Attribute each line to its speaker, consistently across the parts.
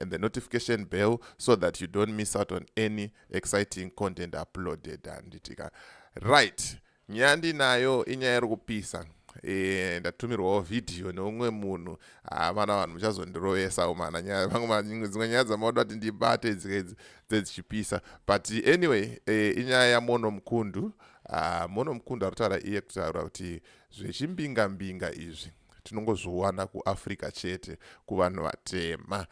Speaker 1: and the notification bell so that you don't miss out on any exciting content uploaded handitika right nyaya ndinayo inyaya iri kupisa Eh, ndatumirwawo vhidhiyo neumwe munhu hamana ah, vanhu muchazondirovesa umana nyaya vamwe dzimwe nyaya dzamauda kuti ndibate dzikaidzi dzedzichipisa but anyway eh, inyaya yamono mukundu ah, mono mukundu ari kutaura iye kutaura kuti zvechimbingambinga izvi tinongozviwana kuafrica chete kuvanhu vatema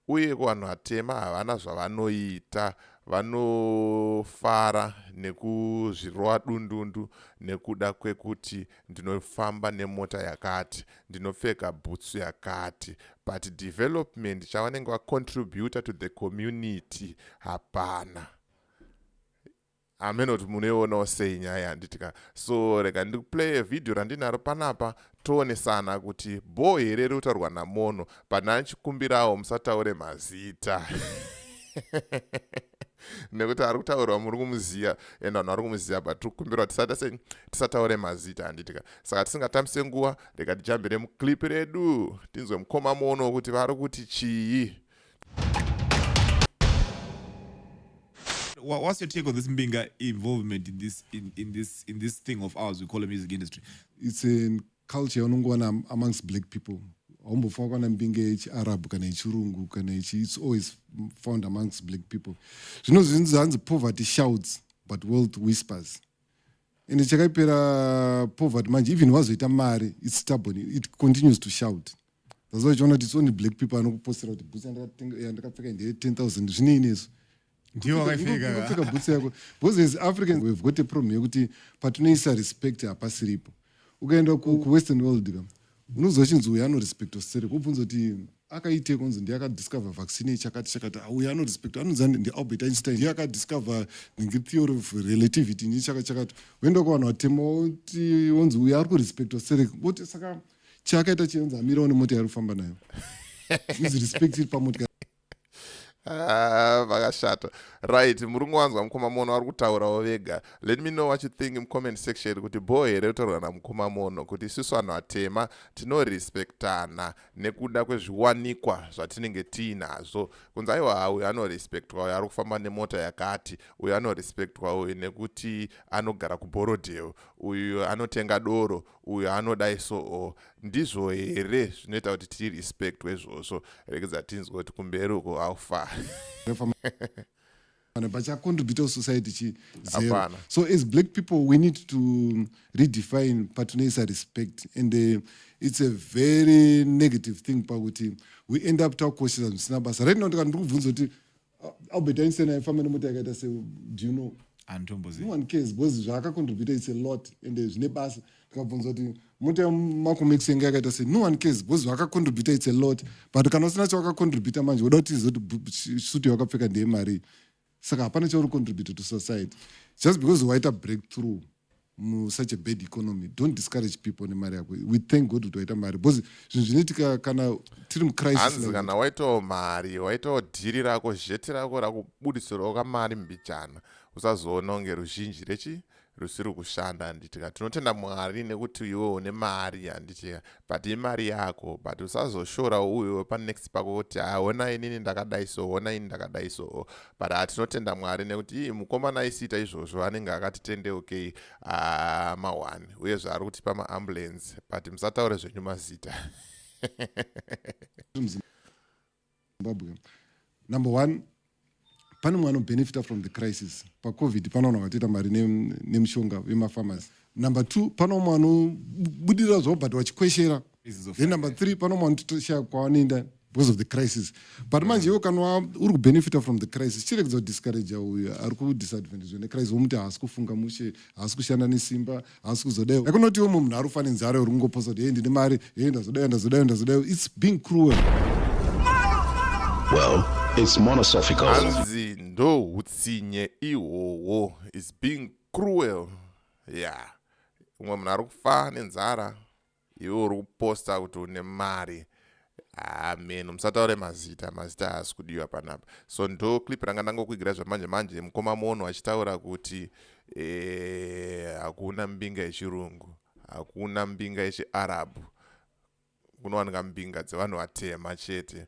Speaker 1: uye kuvanhu vatema havana zvavanoita vanofara nekuzvirova dundundu nekuda kwekuti ndinofamba nemota yakati ndinopfeka bhutsu yakati but development chavanenge vacontributa to the community hapana hameno kuti munoionawo sei nyaya yanditi ka so rega ndikuplaye vhidhiyo randinaro panapa toonesana kuti bho here iri kutaurwa namono pane achikumbirawo musataure mazita nekuti ari kutaurwa muri kumuziva and vanhu vari kumuziva but tiri kukumbirwa tisata sei tisataure mazita handiti ka saka tisingatambise nguva rega tijambire muclip redu tinzwe mukoma mono kuti vari kuti chii
Speaker 2: what's your take on this Mbinga involvement in this in, in this in this thing of ours we call the music industry? It's a
Speaker 3: culture unongona amongst black people. haumbofunga kwana mbinga yechiarabhu kana yechirungu kana yechi it's always found amongst black people zvino zvinzi hanzi poverty shouts but wealth whispers ende chakaipera poverty manje even wazoita mari its stubborn it continues to shout zvazo chiona kuti its only black people anokupostera kuti bhutsi yandakapfeka ndeye 10000 zvinini izvo ndiwo wakaipfeka bhutsi yako because as africans we've got a problem yekuti patinoisa respect hapasiripo ukaenda kuwestern world ka unonzwa chinzi uyo anorespecta sterek obvunza kuti akaite kunzi ndiye akadiscover vaccine chakati chakati ah, uyo anorespecta anonzi ndialbert einstein ndiye akadiscover nenge theory of relativity nii chaka chakati woenda kuvanhu vatema woti wonzi uyo ari kurespecta sterek woti saka chaakaita chinonzi amirawo nemota yaari kufamba nayo is respect iri pamotika Ah,
Speaker 1: vakashata right murungu wanzwa mukoma mono vari kutaurawo vega let me know what you think mucomment section kuti bho here kutaurwa namukoma mono kuti isusu vanhu vatema tinorespectana nekuda kwezviwanikwa zvatinenge tiinazvo kunzi aiwa uyo anorespectwa uyo ari kufamba nemota yakati uyo anorespectwa uyo nekuti anogara kuborodeo uyo anotenga doro uyu anodai so o oh, ndizvo here zvinoita kuti tirespectwe izvozvo regedza tinzwe kuti kumberi uko haufa
Speaker 3: kana pachacontribute kusociety chi zero so as black people we need to redefine patinoisa respect and uh, it's a very negative thing pakuti we end up takukoshesa zvisina basa right now ndikati ndiri kubvunza kuti albert einstein aifamba nemota yakaita se do you know antombozi no one cares because zvaakacontributa its a lot ende zvine basa ndikabvunza kuti mota yamacomex yanga yakaita se no one cares because zvaakacontributa its a lot but kana usina chawakacontributa manje woda kuti izo kuti suti yawakapfeka ndeye marii saka hapana chauri contributa to society just because waita breakthrough mu such a bad economy don't discourage people nemari yako we thank god kuti waita mari because zvinhu zvinoitika kana tiri mucrisis kana waitawo
Speaker 1: mari waitawo dhiri rako zheti rako rakubudisirawo kamari mbichana usazoona kunge ruzhinji rechi rusiri kushanda handitika tinotenda mwari nekuti iwe une mari handitika but imari yako but usazoshora uyo panext pako kuti ha hona inini ndakadai so hona ini ndakadai so but ha tinotenda mwari nekuti ii mukomana aisiita izvozvo anenge akatitendeukei ah, mawani uye zvaari kutipa maambulance but musataure zvenyu mazita
Speaker 3: Zimbabwe. Number one, pane mwana benefita from the crisis pacovid panaona vatoita mari nemushonga ne vemafamasi number two pane umwe anobudirira zvavo but vachikweshera then number three pane umwe anotoshaya kwavanoenda because of the crisis but manje iwo kana uri kubenefita from the crisis chiregedza kudiscouragea uyo ari kudisadvantagea necrisis womuti haasi kufunga mushe haasi kushanda nesimba hausi kuzodai yakunotiwo mumhu munhu arufa nenzara uri kungoposa kuti hei ndine mari hei ndazodai ndazodai ndazodai its being cruel well
Speaker 4: its monosophical hanzi ndo
Speaker 1: utsinye ihwohwo its being cruel ya yeah. umwe munhu ari kufa nenzara iwe uri kuposta kuti une mari amen ah, musataure mazita mazita haasi kudiwa panapa so ndo clip ranga ndangokuigira zvamanje manje mukoma mono achitaura kuti eh, hakuna mbinga yechirungu hakuna mbinga yechiarabhu kunowanika mbinga dzevanhu vatema chete